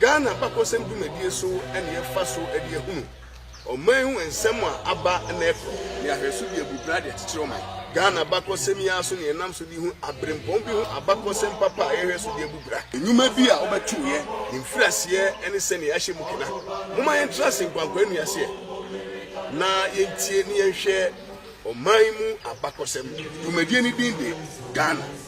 Ghana abakɔsɛm dwumadie so na yɛfa so de ahunu ɔman ho nsɛm a aba na ɛkɔ ne ahwɛso de abu bra de akyekyere ɔman. Ghana abakɔsɛm yi ara so na yɛnam so de hu aberempɔn bi ho abakɔsɛm papa a yɛhwɛ so de abu bra. Nnwuma bi a wɔbɛtoeɛ, ne mfiriaseɛ ne sɛdeɛ yɛahyɛ mu kena. Momma yɛntra ase nkwankwaa nnuaseɛ na yɛntie na yɛnhwɛ ɔman mu abakɔsɛm. Dwumadie no din de Ghana.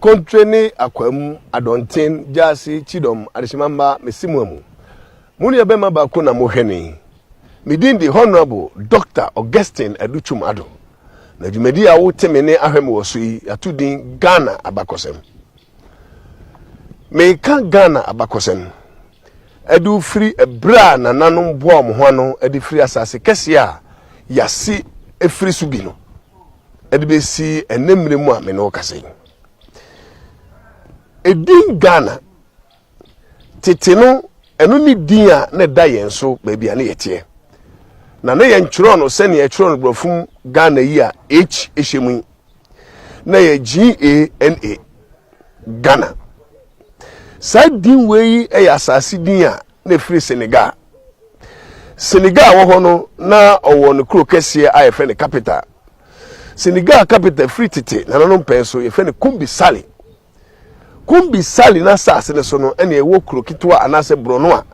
Kontre ne Akwaamu, Adɔnten, Gyaase, Kyidɔm, Adehyemamma, Mesimuamu. Mo nuabɛma baako na mohwɛ no yi. Me din de Honourable Doctor Augustine Adu Twum Addo. Na dwumadi a wo te me ne ahwɛ me wɔ so yi yɛato din Ghana Abakɔsɛm. Meka Ghana Abakɔsɛm de firi ɛberɛ a nananom boaa wɔn ho ano de firi asase kɛseɛ a yɛase afiri so bi no de bɛsi ɛnnɛ mmerɛ mu a me ne wo kasa yi. Edin Ghana, tete no ɛno ne din a na ɛda yɛn so baabi a na yɛteɛ. Na na yɛntwerɛ no sɛdeɛ yɛtwerɛ no borɔfo mu Ghana yi a H hyɛ mu yi. na yɛ GANA, Ghana. Saa din wei yi yɛ asase din a na ɛfiri Senegal. Senegal a ɛwɔ hɔ no, na ɔwɔ ne kuro kɛseɛ a yɛfrɛ no capital. Senegal capital firi tete nananom pɛɛ so yɛfrɛ no Kumbi Sali. Kumbi Sali n'asase no so no ɛna ɛwɔ kuro ketewa anaasɛ borɔno a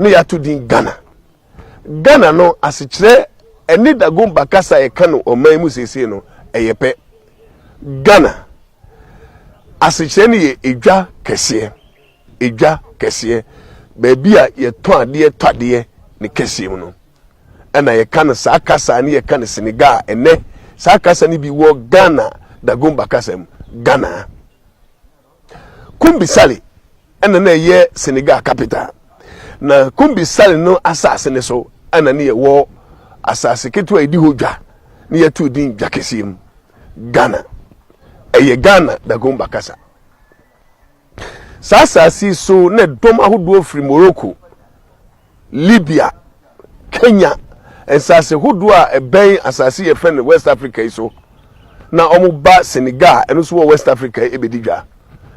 na yɛato din Ghana. Ghana no asekyerɛ ɛne Dagomba kasa a yɛka no ɔman mu seesei no ɛyɛ pɛ. Ghana asekyerɛ no yɛ edwa kɛseɛ, edwa kɛseɛ, baabi a yɛtɔn adeɛ tɔ adeɛ ne kɛseɛ mu no. Ɛna yɛka no saa kasa ne yɛka no Senegal ɛnɛ. Saa kasa no bi wɔ Ghana Dagomba kasa mu, Ghana. Kumbi Sale na na ɛyɛ Senegal capital. Na Kumbi Sale no asase no so na ne yɛwɔ asase ketewa a yɛdi hɔ dwa na yɛato din Dwa Kɛseɛ mu, Ghana. Ɛyɛ Ghana Dagomba kasa. Saa asase yi so na dɔm ahodoɔ firi Morocco, Libya, Kenya, nsase hodoɔ a ɛbɛn asase yɛfrɛ no West Africa yi so na wɔba Senegal a ɛno nso wɔ West Africa yi bɛdi dwa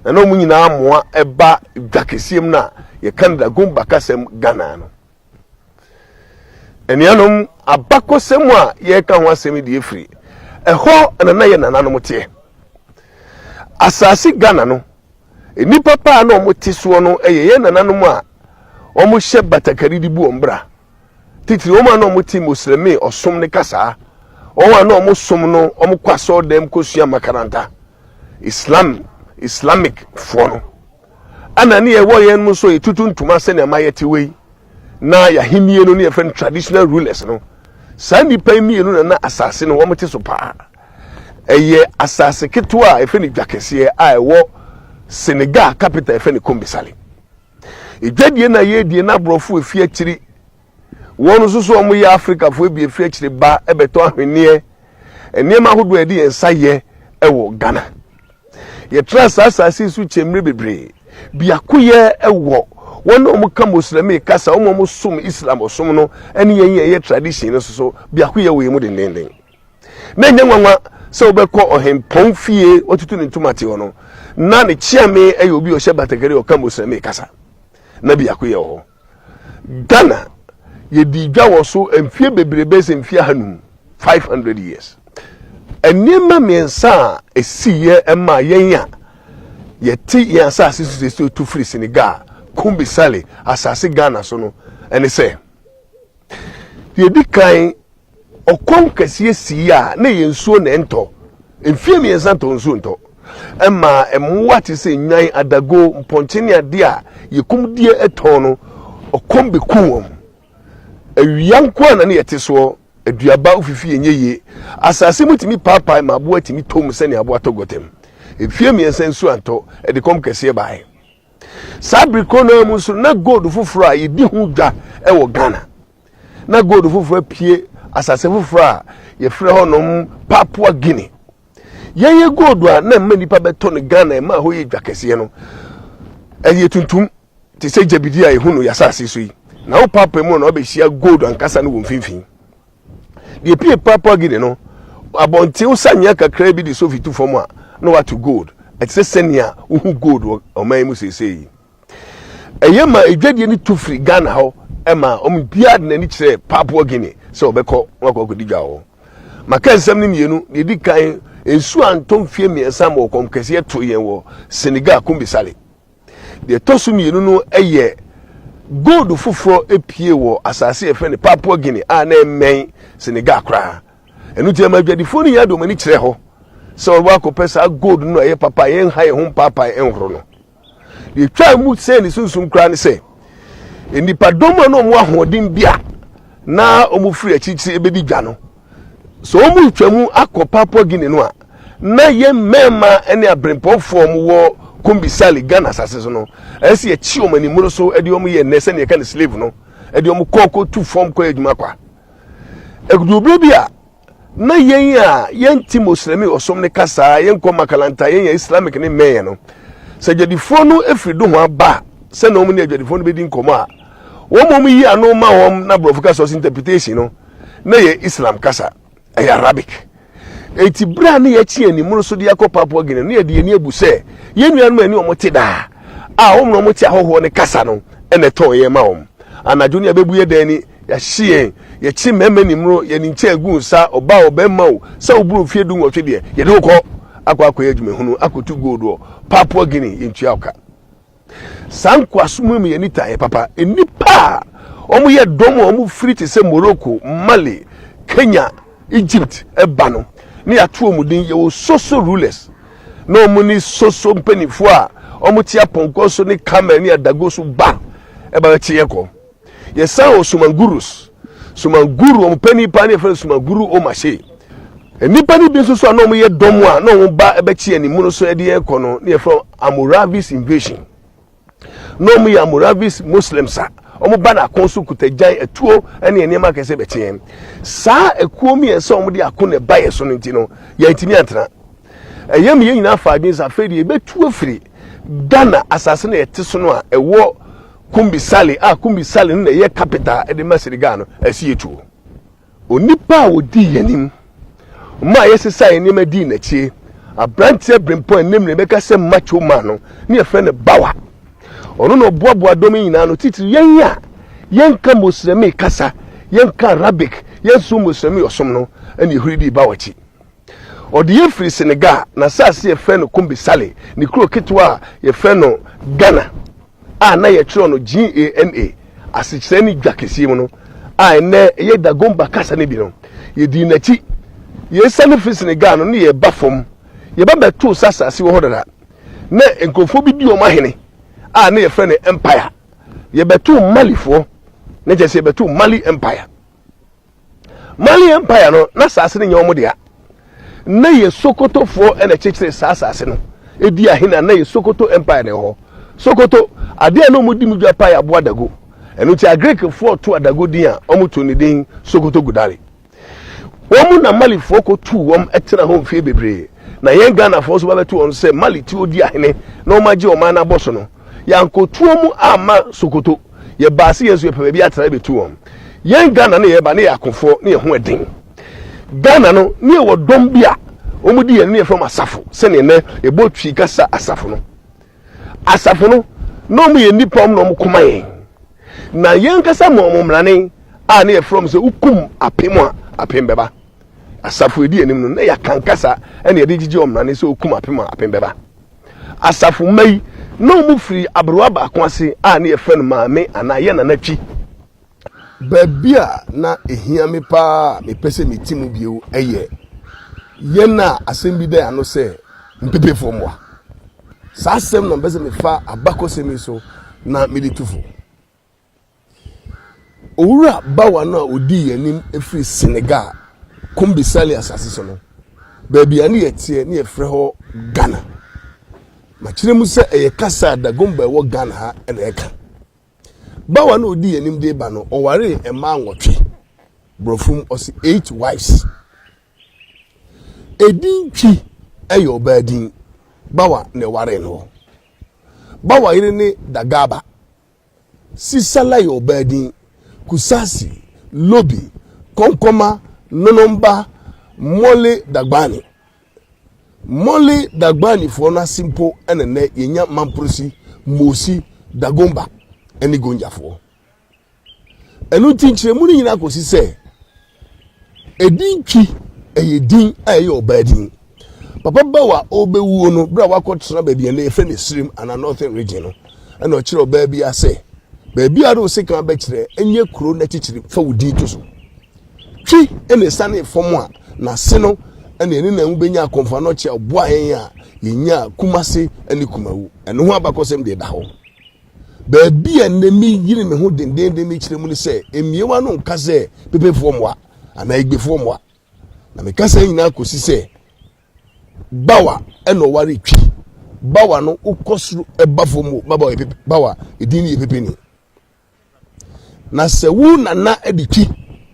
na na wɔn nyinaa mmoa ɛba dwa kɛseɛ mu no a yɛka no Dagom Bakasɛm Ghana no. Anuanom, abakɔsɛm a yɛreka ho asɛm yi deɛ firi ɛhɔ na na yɛ nananom teɛ. Asase Ghana no Nnipa pa a na wɔte soɔ no yɛ yɛn nananom a wɔhyɛ batakari de bu wɔn bra, titiri wɔn a na wɔte Moslɛmi ɔsom ne kasaa, wɔn a na wɔsom no, wɔkɔ asɔɔdam kɔsua makaranta, Islam, Islamic, foɔ no. Ɛna ne yɛwɔ yɛn mu nso yɛtutu ntoma sɛnea ma yɛte wei, na yɛahennie no ne yɛfrɛ no traditional rulers no. Saa nnipa yi mmienu na na asase no wɔte so paa. Ɛyɛ asase ketewa a ɛfɛ no dwa kɛseɛ a ɛwɔ Senegal capital ɛfɛ no Kombisale. Edwadie na yɛ die na aborɔfo ɛfi akyiri wɔn nso so wɔn yɛ Afrikafo ɛbi ɛfi akyiri ba ɛbɛtɔ ahweneɛ nneɛma ahodoɔ a yɛde yɛn nsa yɛ ɛwɔ Ghana. Yɛtra saa asase yi so kyɛmmire bebree. Biakoyɛ ɛwɔ wɔn a wɔka Moslemi kasa wɔn a wɔsom Islam ɔsom no ɛne yɛn yɛn yɛ tradition no so so biakoyɛ wɔ yɛn mu dendenden. Na ɛnyɛ nwanwa sɛ wobɛkɔ ɔhempɔn fie watutu ne ntoma te hɔ no na ne kyeame yɛ obi ɔhyɛ batakari ɔka musrɛme kasa na biako yɛ hɔ Ghana yɛdi dwa wɔ so mfie bebrebe sɛ mfie ahanum 500 years nneɛma mmiɛnsa a ɛsiiɛ ɛma yɛn a yɛte yɛn asase so sɛ tu firi Senegal Kumbi Sale asase Ghana so no ɛne sɛ Deɛ ɛdi kan, ɔkɔm kɛseɛ sii a na ɛyɛ nsuo na ɛntɔ. Mfeɛ mmiɛnsa ntɔɔ nsuo ntɔ. Ɛmaa mmoa te sɛ nnwan, adago, mpɔnkye ne adeɛ a yɛkum die tɔn no, ɔkɔm bɛkuu wɔn. Awia nko ara na na yɛte soɔ. Aduaba ofifie nyɛ yie. Asase mu tumi paapae ma aboa tumi tɔ mu sɛdeɛ aboa tɔ gɔtɛm. Mfeɛ mmiɛnsa nsuo antɔ, ɛde kɔm kɛseɛ baeɛ. Saa bere korɔ no ara mu nso, na gold foforɔ a yɛdi ho dwa wɔ Ghana. Na gold foforɔ apue asase foforɔ a yɛfrɛ hɔnom Papua Guinea. Yɛyɛ gold a na mma nnipa bɛtɔ no Ghana, ɛma ɛhɔ yɛ dwa kɛseɛ no, ɛyɛ tuntum te sɛ gyabidie a yɛhu no yɛn asase so yi. Na wo papa mu no na wabɛhyia gold ankasa no wɔ mfimfini. Deɛ epuee Papua Guinea no, abɔnten wosanyea kakraa bi de sofi tu fam a, na wɔato gold. Ɛte sɛ sɛnea wohu gold wɔ ɔman yi mu seesei yi. Ɛyɛ ma adwadie no tu firi Ghana hɔ ma wɔn mu biara de n'ani kyerɛ Papua Guinea sɛ wɔbɛkɔ na wɔakɔ akɔdi dwa wɔ hɔ. Maka nsɛm no mmienu. Deɛ ɛdi kan, nsuo antɔ mfeɛ mmiɛnsa ma ɔkɔm kɛseɛ too yɛn wɔ Senegal, Kumbi Sale. Deɛ ɛtɔ so mmienu no yɛ gold foforɔ pue wɔ asase a yɛfrɛ no Papua Guinea a na ɛmmɛn Senegal koraa. Ɛno nti ɛma adwadifoɔ no nyaa de wɔn ani kyerɛ hɔ sɛ wɔbɛba akɔpɛ saa gold no a ɛyɛ papa a yɛnha yɛn ho mpaapae nhoro no. Deɛ ɛtwaa mu sɛn ne sunsum koraa ne sɛ, nnipadɔm a na wɔn ahoɔden bi a na wɔfiri akyirikyiri bɛdi dwa no, Sɛ wɔretwa mu akɔ Papua Guinea no a, na yɛn mmarima ne abirempɔnfoɔ a wɔwɔ Kombi Sale, Ghana asase so no, ɛyɛ sɛ yɛkye wɔn animmoro so de wɔn yɛ nnɛ sɛdeɛ yɛka no slave no, de wɔn kɔ kɔtu fam kɔyɛ adwuma kwa. Ɛduru berɛ bi a, na yɛn a yɛnte Moslɛmi ɔsom no kasa, yɛnkɔ makalanta, yɛnyɛ Islamic ne mmɛnyɛ no, sɛ adwadifoɔ no firi dohoa ba sɛ na wɔn ne adwadifoɔ no bɛdi nkɔmmɔ a, wɔma wɔyi ano ma wɔn na borɔfo ka source interpretation no, na yɛ Islam kasa, ɛyɛ Arabic. Enti bere a na yɛakyi anim no so de akɔ Papua Guinea no yɛde yɛn abu sɛ yɛn nuanom ani wɔn te daa a wɔn na wɔte ahɔhoɔ ne kasa no na ɛtɔn yɛn ma wɔn. Anadwo no yɛbɛbu yɛ dan ni, yɛahye yɛn, yɛkye mmarima nimro, yɛn nkyɛn agu nsa, ɔbaa a ɔbarima o, sɛ woboro mfeɛ du nwɔtwe deɛ, yɛde wo kɔ akɔ akɔyɛ adwumahunu, akɔtu gold wɔ Papua Guinea, yɛntua wo ka. Saa nkoasom yi ma yɛn nitaeɛ papa. Nnipa a wɔyɛ dɔm a wɔfiri te sɛ Morocco, Mali, Kenya, Egypt ba no, na yɛato wɔn din. Yɛwɔ Soso rulers, na wɔn ne Soso mpanimfoɔ a wɔte apɔnkɔ so ne camel ne adago so ba ba bɛkye yɛn kɔ. Yɛsan wɔ Sumangurus. Sumanguru, wɔn panyin paa no yɛfrɛ no Sumanguru Omashe. Nnipa no bi nso so a na wɔyɛ dɔm a na wɔn ba bɛkye yɛn mu no so de yɛn kɔ no na yɛfrɛ wɔn Amoravis invasion. Na wɔn yɛ Amoravis Muslims a wɔn ba no ako so kuta gyan, atuo ne nneɛma akɛse bɛkye yɛn. Saa akuo mmiɛnsa a wɔn de ako na ɛba yɛn so no nti no yɛntumi antena. Ɛyɛ mu yɛn nyinaa fa adwene sɛ afei deɛ yɛbɛtu afiri Ghana asase na yɛte so no a ɛwɔ Kumbi Sale a Kumbi Sale no na ɛyɛ capital de ma Senegal no asiyɛ tuo. Onipa a ɔdii yɛn anim maa yɛsesaa yɛn nneɛma dii n'akyi, aberanteɛ berempɔn a ɛnnɛ mmerɛ bɛka sɛ macho man no ne yɛfrɛ no Bawa. Ɔno na ɔboaboa dɔm yi nyinaa ano, titiri yɛn a yɛnka Moslɛmi kasa, yɛnka Arabic, yɛnsom Moslɛmi ɔsom no, ɛna yɛhuri dii Bawa akyi. Ɔdeyɛ firi Senegal, n'asase yɛfrɛ no Kumbi Sale, ne kuro ketewa a yɛfrɛ no Ghana a na yɛtwerɛ no G-A-N-A, asekyerɛ ne dwa kɛseɛ mu no, a ɛnnɛ ɛyɛ Dagomba kasa no bi no. Yɛdii n'akyi. Yɛresiane firi Senegal no, na yɛreba fam. Yɛba bɛtoo sɛ asase wɔ hɔ dada. Na nkurɔfoɔ bi di wɔn ahene a na yɛfrɛ no Empire. Yɛbɛtoo Malifoɔ, na kyerɛ sɛ yɛbɛtoo Mali Empire. Mali Empire no, na asase no nyɛ wɔn dea. Na yɛ Sokotofoɔ na ɛkyekyere saa asase no. Edi ahe na na yɛ Sokoto Empire na ɛwɔ hɔ. Sokoto, adeɛ a na wɔn di mu dwa paa yɛ aboa dago. Ɛno nti Agirikfoɔ too adago din a wɔn too ne din Sokoto Gudari. Wɔn na Malifoɔ kɔ tuu wɔn tena hɔ mfeɛ bebree. Na yɛn Ghanafoɔ nso ba bɛto wɔn sɛ Mali ti odi ahene na wɔn agye wɔn man no abɔ so no. Yɛankɔtuo mu amma Sokoto. Yɛbaa se yɛn so yɛpɛ baabi atena bɛtu wɔn. Yɛn Ghana no yɛba no yɛ akofoɔ ne yɛn ho ɛden. Ghana no ne yɛwɔ dɔm bi a wɔn di yɛn ne yɛfrɛ wɔn asafo sɛdeɛ nɛ yɛbɔ Twi kasa asafo no. Asafo no na wɔn yɛ nnipa wɔn na wɔn koma yɛn. Na yɛn ankasa ma wɔn mmrane a ne yɛfrɛ wɔn sɛ wokum apem a apem bɛba. Asafo ɛdi anim no na yɛaka nkasa ɛna yɛde gyegye wɔn mmrane sɛ wokum apem a apem bɛba. Asafo mma yi, na wɔfiri aberewa baako ase a na yɛfrɛ no Maame anaa Yɛn Nana Twi. Baabi a na ɛhia me pa ara a mepɛ sɛ mete mu bio yɛ yɛn a asɛm bi da yɛn ano sɛ Mpepefoɔ mmoa. Saa asɛm no na mepɛ sɛ mefa abakɔsɛm yi so na mede tu fo. Owura bawa no a ɔdii yɛn anim firi Senegal, Kombi Sali asase so no, baabi a ne yɛ teɛ ne yɛfrɛ hɔ Ghana. Makyerɛ mu sɛ ɛyɛ kasa a Dagomba ɛwɔ Ghana ha na ɛka. Bawa no a ɔdii yɛn anim de ba no, ɔwaree mmaa nwɔtwe, borɔfo mu ɔse eight wives. Edin Twi ɛyɛ ɔbaa din, bawa na ɛwaree no. Bawa yere ne Dagaba, Sisala yɛ ɔbaa din. Kusasi, Lobi, Kɔnkɔma, Nonomba, Mole Dagbani. Mole Dagbanifoɔ no ase mpo na nnɛ yɛnya Mamprosi, Mosi, Dagomba ne Gonjafoɔ. Ɛno nti nkyerɛmu no nyinaa kɔsi sɛ Edin Twi yɛ din a ɛyɛ ɔbaa din. Papa Bow a ɔrebɛwuo no, berɛ a wakɔtena baabi a nnɛ yɛfrɛ no Asirim anaa Northern Region no, ɛna ɔkyerɛ ɔbaa bi a sɛ, baabiara a wo sekan bɛkyerɛ, ɛnyɛ kuro no akyikyiri, fa wo din to so. Twi na ɛsianee fam a n'ase no na yɛne Nanwu bɛnya akɔmfanokyɛ a ɔboaa yɛn a yɛnyaa Kumase ne Kumawu. Ɛno ho abakɔsɛm deɛ ɛda hɔ. Baabi a nnɛ meyere me ho dendeenden mekyerɛ mu ne sɛ mmiewa no nka sɛ pepefoɔ mmoa anaa egbefoɔ mmoa na meka saa nyinaa kɔsi sɛ bawa ɛna ɔware twi bawa no wokɔ soro ɛba fam o bawa yɛ pepe bawa edin no yɛ pepe ni na sɛ wo nana ɛde twi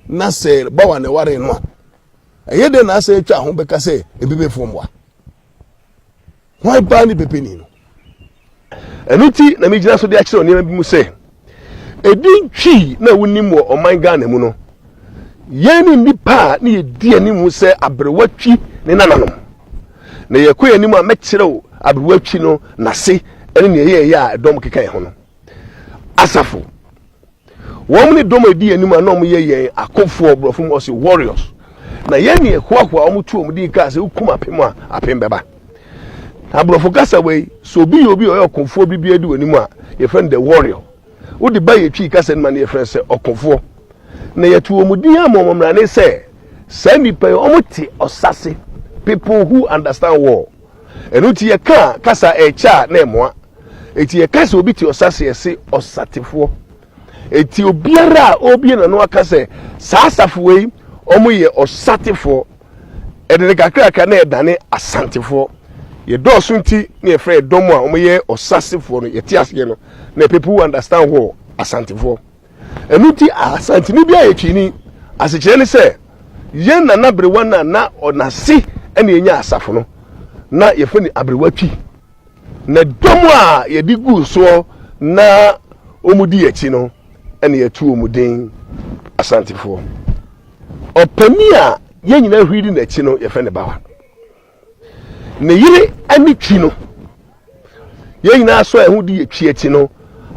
na sɛ bawa na ɛware no a ɛyɛ dɛ na asɛ atwa ho bɛka sɛ mpepefoɔ mmoa Hwan paa ne bebeni no? Ɛno nti na megyina so de akyerɛw nneɛma bi mu sɛ, edin twi na wonim wɔ ɔman Ghana mu no, yɛn ne nnipa a ne yɛdi anim sɛ aberewa twi ne nananom. Na yɛkɔ yɛn anim a mɛkyerɛw aberewa twi no n'ase ne nea ɛyɛeɛ a ɛdɔm keka yɛn ho no. Asafo. Wɔn ne dɔm a ɛdi anim a na wɔyɛ yɛn akofoɔ, borɔfo mu wɔse warriors. Na yɛn ne ɛhoahoa wɔn tu wɔn din kaa sɛ wokum apem a, apem bɛba. Na borɔfo kasa wei, sɛ obi yɛ obi a ɔyɛ ɔkofoɔ bi biara di wɔn anim a, yɛfrɛ no the warrior. Wode ba yɛtwi kasa no ma no yɛfrɛ no sɛ ɔkofoɔ. Na yɛto wɔn din ama wɔn mmara ne sɛ saa nnipa yi wɔn te ɔsa se, people who understand war. Ɛno nti yɛka kasa ɛkyɛ a na ɛmoa. Enti yɛka sɛ obi te ɔsa se yɛse ɔsatefoɔ. Enti obiara a ɔbie n'ano aka sɛ saa asafo wei wɔyɛ ɔsatefoɔ, ɛde ne kakrakra na yɛdane asantefoɔ. Yɛdɔɔso nti na yɛfrɛ yɛdɔm a wɔyɛ ɔsasefoɔ no yɛte aseɛ no na people who understand wɔ asantefoɔ. Ɛno nti asanteni biara yɛ Twini. Asekyerɛ ne sɛ yɛn nana berewa no a na ɔnase ɛna yɛnya asafo no na yɛfrɛ no aberewa Twi. Na dɔm a yɛde guu soɔ na wɔdi yɛn akyi no, ɛna yɛto wɔn din Asantefoɔ. Ɔpanin a yɛn nyinaa huri di n'akyi no, yɛfrɛ no Bawa. Ne yere ne Twi no, yɛn nyinaa sɔ yɛn ho di yɛn Twi akyi no,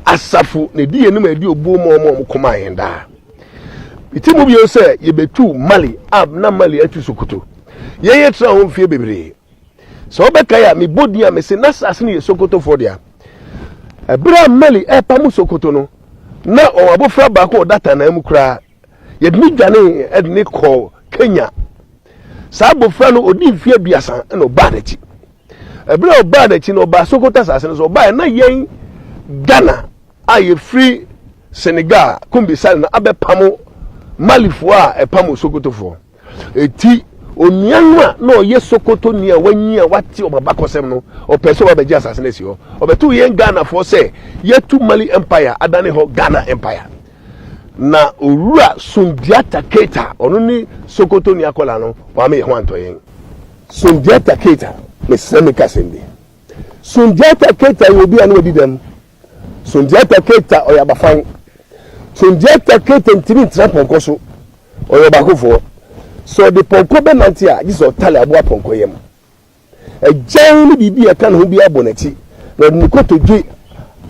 asafo na ɛdi yɛn anim a ɛdi obuo ma wɔn a wɔkɔmaa yɛn daa. Mete mu bio sɛ yɛbɛtu Mali a na Mali atu Sokoto. Yɛn yɛtra ho mfeɛ bebree. sɛ wobɛkae a mebɔ din a mese na saase no yɛ sokotofoɔ dea ɛberɛ a mali ɛrepa mu sokoto no na ɔwɔ abɔfra baako a ɔda tanaa mu koraa yɛde ne dwane ɛde ne kɔɔ kenya saa abɔfra no ɔdi mfeɛ aduasa ɛna ɔbaa n'akyi ɛberɛ a ɔbaa n'akyi no ɔbaa sokoto saase no so ɔbaa na yɛn ghana a yɛfiri senegal kumbisale no abɛpamo malifoɔ a ɛpamo sokotofoɔ Enti, onua no a na ɔyɛ Sokotoni a wanyin a wate wɔn abakɔsɛm no, ɔpɛe sɛ ɔba bɛgye asase no asi hɔ. Ɔbɛtoo yɛn Ghanafoɔ sɛ yɛatu Mali Empire adane hɔ Ghana Empire. Na Owura Sundiata Keita, ɔno ne Sokotoni akwadaa no, wama yɛn ho antɔ yɛn. Sundiata Keita, mesrɛ menka asɛm bi. Sundiata Keita yɛ obi a na wadi dɛm. Sundiata Keita ɔyɛ abafan. Sundiata Keita ntumi ntena pɔnkɔ so, ɔyɛ ɔbaakofoɔ. Sɛ ɔde pɔnkɔ bɛnante a, gye sɛ ɔtare aboa pɔnkɔ yam. Agyan ne biribi a ɛka ne ho biara bɔ n'akyi, na ɔde ne kotodwe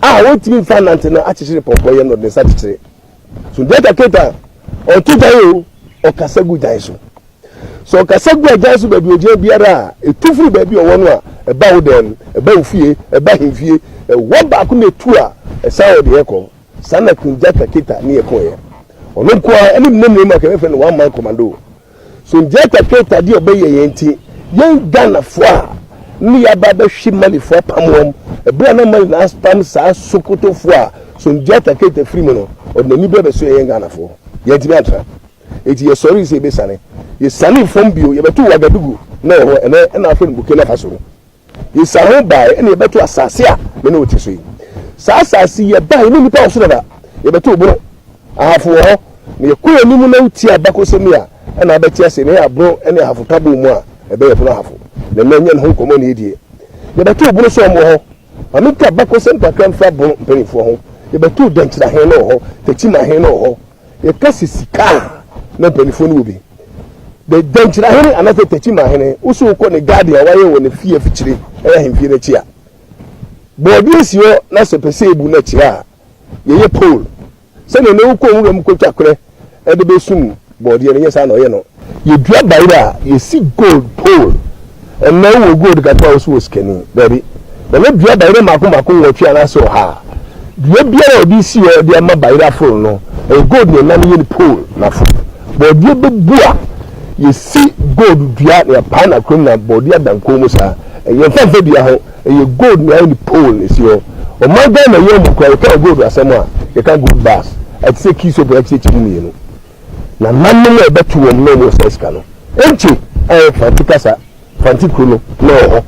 a ɔntumi mfa nnante no akyekyere pɔnkɔ yam na ɔde ne nsa kyekyere. Sundiata Keita, ɔto gyan o, ɔkasa gu gyan so. Sɛ ɔkasa gu agyan so baabi ogyan biara a, etu firi baabi a ɔwɔ no a ɛba wo dan mu, ɛba wo fie, ɛba ahemfie, ɛwɔ baako na etu a, ɛsan wɔ deɛ ɛkɔ. Saa na Queen Njata Keta ne yɛ kɔeɛ. Ɔno nko ara ne mmerɛ mmienu a nka yɛbɛfrɛ no one man commando. So Njata Keta deɛ ɔbɛyɛ yɛn nti, yɛn Ghanafoɔ a ne yɛaba abɛhwe Malifoɔ apam wɔn, ɛberɛ a na Mali na apam saa Sokotofoɔ a So Njata Keta firi mu no, ɔde n'ani berɛ bɛsoɛ yɛn Ghanafoɔ. Yɛantumi antra. Enti yɛsɔree sɛ yɛbɛsiane. Yɛsianee fam bio, yɛbɛtoo Ouagadougou na ɛhɔ ɛnnɛ na wɔfrɛ no Burkina Faso no. Yɛsian ho baeɛ na yɛbɛtoo asase a me ne wo te so yi. Saa asase yi, yɛbaeɛ, yɛnni nnipa wɔ so dada. Yɛbɛtoo Bono. Ahafo wɔ hɔ. Na yɛkɔ yɛn anim na wotie abakɔsɛm yi a, ɛnna wobɛte ase na ɛyɛ a Bono ne Ahafo ka bɔɔ mu a, ɛbɛyɛ Bono Ahafo. Na ɛnnɛ yɛnyɛ ne ho nkɔmmɔ na yɛdie. Yɛbɛtoo Bono sɛ wɔwɔ hɔ. Ma menka abakɔsɛm kakra mfa Bono mpanimfoɔ ho. Yɛbɛtoo Denkyira he na ɔwɔ hɔ, Tetima he na ɔwɔ hɔ. Yɛka sɛ sika a, na mpanimfoɔ no wɔ bi. The Dankyirahene anaasɛ Takyimahene, wo so wokɔ ne garden a wayɛ wɔ ne fie afikyire, ɛyɛ ahemfie no akyi a, bɔɔdeɛ si hɔ na sɛ pɛ sɛ yɛbu no akyire a, yɛyɛ pole. Sɛdeɛ ɛnnɛ wokɔ nwura mu kɔtwa korɛ de bɛsum bɔɔdeɛ no, ɛnyɛ saa na ɔyɛ no. Yɛdua bayerɛ a, yɛsi gold pole. Ɛnnɛ wowɔ gold kakra a wo nso wɔ sikani. Dabi. Na na dua bayerɛ mmaako mmaako nwɔtwe anaasɛ ɔha a dua biara a ɔde resi hɔ de ama bayerɛ aforo no, ɛyɛ gold na ɛnam yɛ no pole na aforo. Bɔɔdeɛ bɛbu a, yɛsi gold dua na yɛapae no akoram na bɔɔdeɛ ada nkɔn mu saa. Yɛmfa mfa dua ho, ɛyɛ gold na yɛayɛ no pole na ɛsi hɔ. Ɔman Ghana yi amu koraa, yɛka gold asɛm a, yɛka gold bars. Ɛte sɛ kii soap na ɛte sɛ kyɛ mu mmienu. na nnanom a ɛbɛto wɔn na wɔresa sika no, egye a ɛyɛ Franti kasa, Franti kuro no na ɛwɔ hɔ.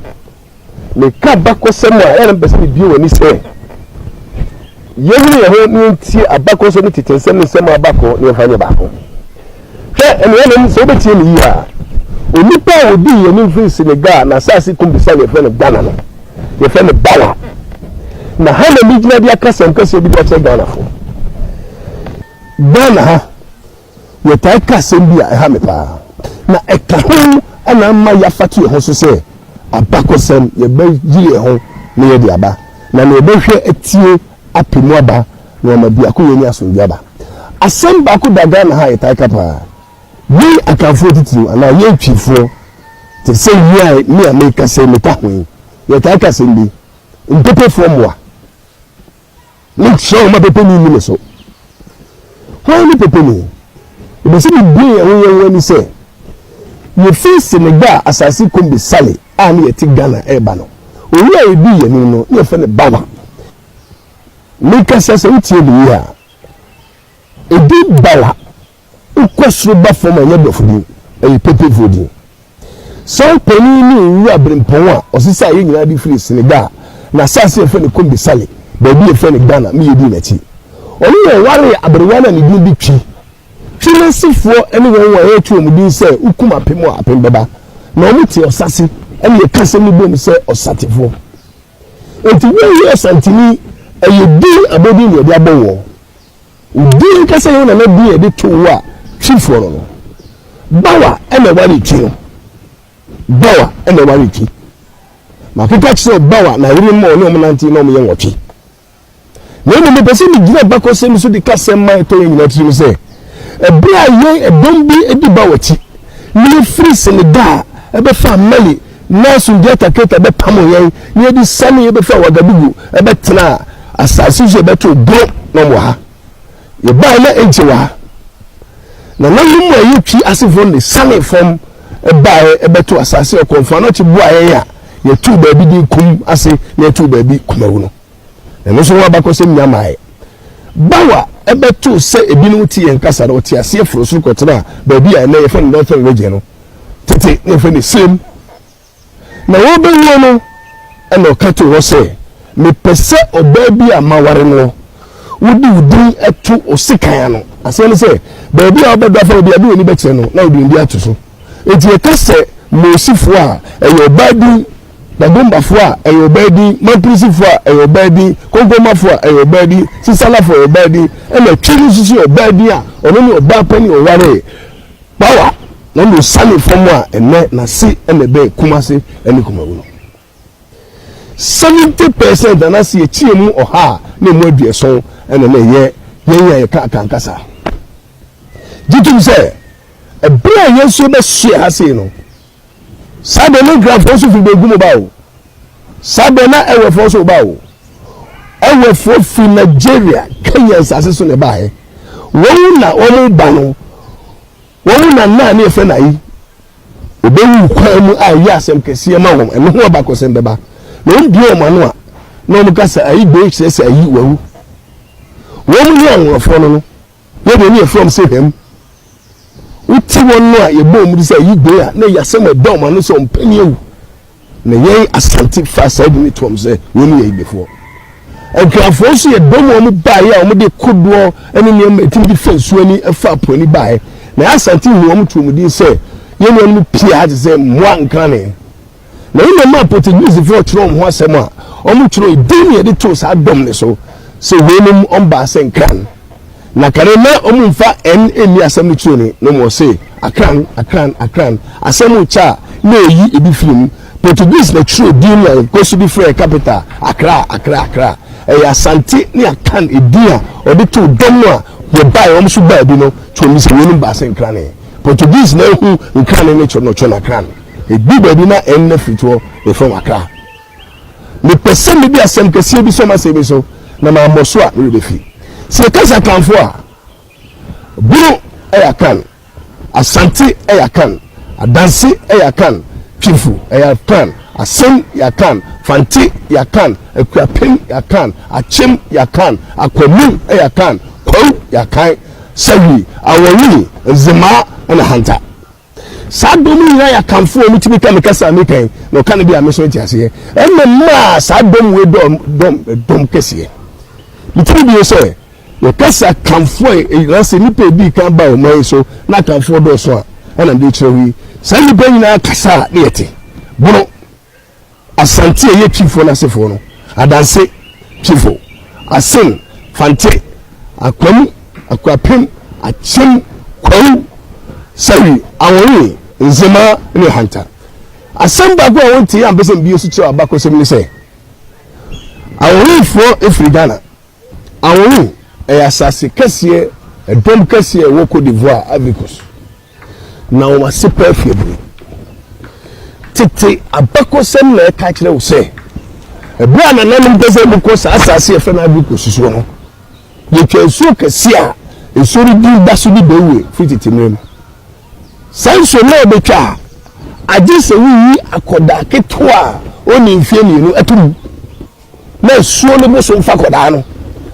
Meka abakɔsɛm a, ɛyɛ na mepɛ sɛ mebue w'ani sɛ yɛnyere yɛn ho na yɛntie abakɔsɛm ne tete nsɛm ne nsɛm a aba kɔ na yɛmfa nyɛ baako. Hwɛ, anuanom, sɛ wobɛtie me yie a, onipa a ɔdii yɛn anim firi Senegal na asase kum bisa no yɛfrɛ no Ghana no, yɛfrɛ no Bawa. Na ha na megyina de akasɛm kɛseɛ bi de akyerɛ Ghanafo. Ghana ha, yɛtaa ka asɛm bi a ɛha me paa, na ɛka ho na ama yɛafata yɛn ho so sɛ, Abakɔsɛm, yɛbɛyere yɛn ho na yɛde aba, na nea ɔbɛhwɛ atie apɛ mu aba, na wama biakoyɛ ne asomdwoe aba. Asɛm baako da Ghana ha a yɛtaa ka paa, yɛn Akanfoɔ atitiriw anaa yɛn Twifoɔ, te sɛ yi a me a merekasa yi meka ho yi, yɛtaa ka asɛm bi, Mpepefoɔ mmoa. Mekyerɛ wo ma pɛpɛni nni me so. Hwan ne pɛpɛni? Ɛbɛ sɛ mebue ɛho yɛn ho ani sɛ yɛfiri Senegal asase Kombe Sale a ne yɛte Ghana reba no, owura a ɛdii yɛn anim no, ne yɛfrɛ no Bawa. Mekasa sɛ wotie me yie a, ɛdin Bawa Wokɔ soro ba fam a, ɛnyɛ dɔfo din, ɛyɛ Pepefoɔ din. Saa panin yi ne Owura Brempɔn a ɔsesaa yɛn nyinaa de firii Senegal, n'asaase a yɛfrɛ no Kombe Sale, baabi a yɛfrɛ no Ghana, me yɛdii n'akyi. Ɔne yɛn waree aberewa no a ne din de Twi. Twi n'asefoɔ ne wɔn a yɛto wɔn din sɛ wokum apem a, apem bɛba. Na wɔte ɔsase, ɛna yɛka asɛm no bom sɛ ɔsatefoɔ. Enti wonnyɛ Ɔsantini, ɛyɛ din, abodin na yɛde abɔ woɔ. Wo din ankasa yɛ wo nana din a yɛde too wo a Twifoɔ no no. Bawa na ɛware Twi no. Bawa na ɛware Twi. Makeka kyerɛ wo Bawa na yere mma ɔne wɔn nante na wɔn yɛ nwɔtwe. Na mmom mepɛ sɛ megyina bakɔsɛm so de ka sɛm ma ɛtɔ yɛn nyinaa tirim sɛ ɛberɛ a yɛn ɛdɔm bi di Bawa akyi na yɛfiri Senegal bɛfaa Mali Nelson Diata Keita bɛpamoo yɛn na yɛde siane yɛbɛfaa Ouagadougou bɛtenaa asase so yɛbɛtoo boro na wɔn wɔ ha. Yɛbaeɛ na ɛnkyɛ wɔ ha, nananom a ɛyɛ Twi asefoɔ no de sianee fam baeɛ bɛtoo asase a ɔkɔmfoɔ anɔkye boaa yɛn a yɛtoo baabi din Kum ase na yɛtoo baabi Kumawu no. na ɛno nso ho abakɔsɛm nya mmaeɛ. Baw a ɛbɛtoo sɛ ebinom te yɛn kasa no, ɔte aseɛ foroo soro kɔtenaa baabi a ɛnnɛ yɛfrɛ no Northern Region no. Tete na yɛfrɛ no Salem. Na wɔrebɛwuo no, ɛna ɔka too hɔ sɛ, Mepɛ sɛ ɔbaa bi a maware no, wode wo din to wo sekan ano. Aseɛ ne sɛ, baabi a wobɛdɔ afa no bi a, de w'ani bɛkyerɛ no na wode wo din ato so. Enti ɛka sɛ Mosifoɔ a, ɛyɛ ɔbaa din. Dagombafo a, ɛyɛ ɔbaa din, Mapurisifo a, ɛyɛ ɔbaa din, Konkomafo a, ɛyɛ ɔbaa din, Sisalafo a, ɛyɛ ɔbaa din, ɛnna Twi no nso so yɛ ɔbaa din a ɔno ne ɔbaa panin a ɔwaree Kpawa na ɔne osianee fam a ɛnnɛ n'ase na ɛbɛn Kumase ne Kumawu no. Seventy percent anaasɛ yɛkyɛ mu ɔha a na ɛmu aduɔson na na ɛyɛ yɛn a yɛka Akan kasa. Gye tom sɛ, bere a yɛn nso yɛbɛsoɛ ha sei no, Saa bɛ ne nkranfoɔ nso firi bɛgu mu ba o. Saa bɛ na ɛwɛfoɔ nso ba o. Ɛwɛfoɔ firi Nigeria, Kenya nsase so na ɛbaeɛ. Wɔn na wɔn ba no, wɔn na naa ne yɛfrɛ no ayi. Ɔbɛwu kwan mu a ɛyɛ asɛm kɛseɛ ma wɔn. Ɛno ho abakɔsɛm bɛba. Na wɔn bie wɔn ano a, na wɔn ka sɛ ayi bɛyi kyerɛ sɛ ayi wawu. Wɔn ne anworofoɔ no no. Yɛ deɛ ne yɛfrɛ wɔn sɛ hwɛm. Wote wɔn no a yɛbɔ wɔn de sɛ ayi gben a, na ɛyɛ asɛm a ɛda wɔn ano sɛ ɔmpɛni awu. Na yɛn Asante faa saa din no to wɔn sɛ wɔn yɛ ayibefoɔ. Nkrafoɔ nso yɛ dɔm a wɔn baeɛ a wɔn de kodoɔ ne nneɛma a ɛtumi de fa nsuo ani fa apo ani baeɛ. Na yɛn Asante huu wɔn too wɔn din sɛ yɛn nuanom pii a te sɛ mmoa nkane. Na wo nua maa Portuguesefoɔ twerɛ wɔn ho asɛm a wɔn twerɛɛ din na yɛde too saa dɔm no so sɛ weinom wɔn baa sɛ Nkran. Na kane na wɔn mfa N nni asɛm no twerɛ ni na wɔn se Akran, Akran, Akran. Asɛm rekyɛ a na ɛyi ebi firi mu. Portuguese na twerɛɛ din no a yɛn kɔ so de frɛɛ capital Akra, Akra, Akra. Ɛyɛ Asante ne Akan edin a wɔde too dɔm no a wɔbaeɛ wɔn nso baa bi no twerɛ mu sɛ weinom baa sɛ Nkrane. Portuguese na ahu Nkrane ne Chornochorno, Akran. Edu baabi na ɛnna firi toɔ refa w'akra. Mepɛ sɛ mede asɛm kɛseɛ bi sɔ m'asɛm yi so, na mammɔ so a, me werɛ bɛfi. Sɛ yɛka sɛ Akanfoɔ a, Bono yɛ Akan, Asante yɛ Akan, Adanse yɛ Akan, Twifo yɛ Akan, Asen yɛ Akan, Fante yɛ Akan, Akuapem yɛ Akan, Akyem yɛ Akan, Akwanu yɛ Akan, Kwawu yɛ Akan, Sawie, Awɔnwini, Nzemaa, ɛna Hanta. Saa dɔm yi nyinaa yɛ akanfoɔ, ɔmo tumi ka me kasa a me pɛn, na ɔka no bi a me nso nte aseɛ. Ɛna ɛmaa saa dɔm wei dɔɔ dɔm dɔm kɛseɛ. Me tumi bio sɛ, yɛka sɛ akanfoɔ a ɛyina sɛ nipa edi kan ba ɔman yi so na akanfoɔ dɔɔso a, ɛna mede kyerɛ wo yi. Saa nipa nyinaa kasa a ne yɛte. Bono. Asante a ɛyɛ Twifoɔ no asefoɔ no, Adanse Twifo, Asen, Fante, Akwam, Akuapem, Akyem, Kwawu, Sawi, Awonwe, Nzema ne Ohanta. Asɛm baako a wɔntee ampɛ sɛ mbie nso kyerɛw abakɔsɛm ne sɛ, Awonwefoɔ firi Ghana. Awonwe yɛ asase kɛseɛ, ɛdɔm kɛseɛ a ɛwɔ Cote d'Ivoire, Ivory Coast. Na wɔn ase pa afi abunu. Tete abakɔsɛm na ɛka kyerɛ wo sɛ, ɛberɛ a nananom pɛ sɛ wɔkɔ saa asase yɛfrɛ no Ivory Coast soɔ no, yɛtwa nsuo kɛseɛ a nsuo no din da so de bɛwue firi tete mmerɛ mu. Saa nsuo no na wɔbɛtwa a, agye sɛ woyi akɔdaa ketewa a ɔnni mfeɛ mmienu to mu. Na asuo no bo so mfa kɔdaa no,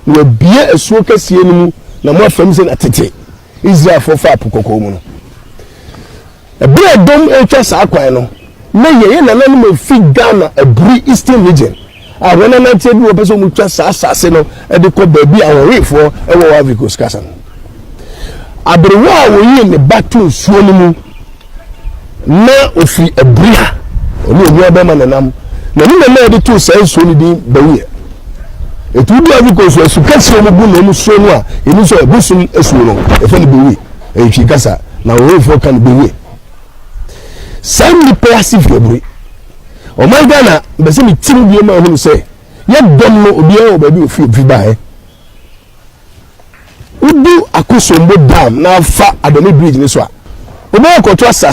na wɔabue asuo kɛseɛ no mu, na mo afam se na tete Israelfoɔ faa Po Kɔkɔɔ mu no. Ɛberɛ a dɔm retwa saa kwan no, na yɛn nananom a wɔfi Ghana Aburi Eastern Region a wɔananteɛ bi wɔpɛ sɛ wɔtwa saa asase no de kɔ baabi a Ahohefoɔ wɔ wɔ Ivory Coast kasa no. Aberewa a ɔyii ne ba too nsuo no mu. na ɔfiri abiri a ɔne onua bɛrima nenam na ne mama yɛde too saa nsuo no din bɛweɛ ɛti wodu afrika nsuo asu kɛseɛ ɔmo gu na ɔmo suo no a ɛni sɛ ɛbosom asuo no ɛfɛ no bɛwie ɛyɛ twi kasa na ɔwɔfoɔ ka no bɛwie saa nnipa yɛ ase firi abiri ɔman ghana bɛsɛ me tim bie ma ahunu sɛ yɛ dɔm no obiara wɔ baabi ofi ofi baeɛ Wodu Akosombo Dam na afa Adani Bridge no so a, wobɛyɛ akɔto asase a